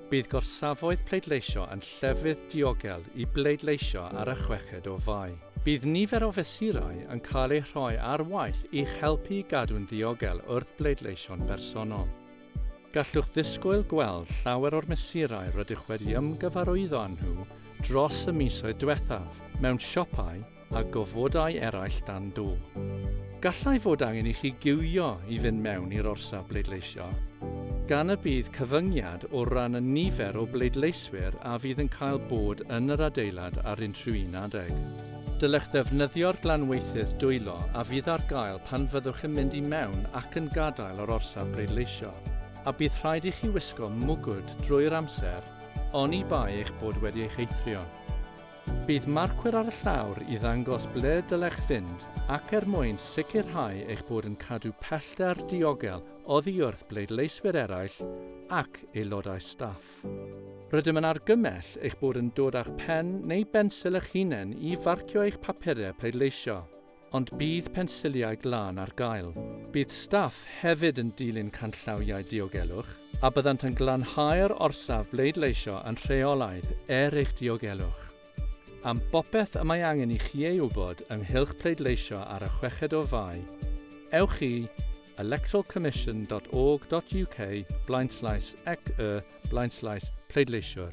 Bydd gorsafoedd pleidleisio yn llefydd diogel i bleidleisio ar y chweched o Fai. Bydd nifer o fesurau yn cael eu rhoi ar waith i'ch helpu i gadw'n ddiogel wrth bleidleisio'n bersonol. Gallwch ddisgwyl gweld llawer o'r mesurau rydych wedi ymgyfarwyddo â nhw dros y misoedd diwethaf mewn siopau, a gofodau eraill dan do. Gallai fod angen i chi giwio i fynd mewn i'r orsaf bleidleisio, gan y bydd cyfyngiad o ran y nifer o bleidleiswyr a fydd yn cael bod yn yr adeilad ar unrhyw un adeg. Dylech ddefnyddio'r glanweithydd dwylo a fydd ar gael pan fyddwch yn mynd i mewn ac yn gadael yr orsaf bleidleisio, a bydd rhaid i chi wisgo mwgwd drwy'r amser, oni bai eich bod wedi eich eithrio. Bydd marcwyr ar y llawr i ddangos ble dylech fynd ac er mwyn sicrhau eich bod yn cadw pellter diogel oddi wrth bleidleiswyr eraill ac aelodau staff. Rydym yn argymell eich bod yn dod â'ch pen neu bensil eich hunain i farcio eich papurau pleidleisio. Ond bydd pensiliau glân ar gael. Bydd staff hefyd yn dilyn canllawiau diogelwch a byddant yn glanhau'r orsaf bleidleisio yn rheolaidd er eich diogelwch. Am bopeth y mae angen i chi ei wybod ynghylch pleidleisio ar y chweched o Fai, ewch i electoralcommission.org.uk blaenslaes ec y blaenslaes pleidleisiwr.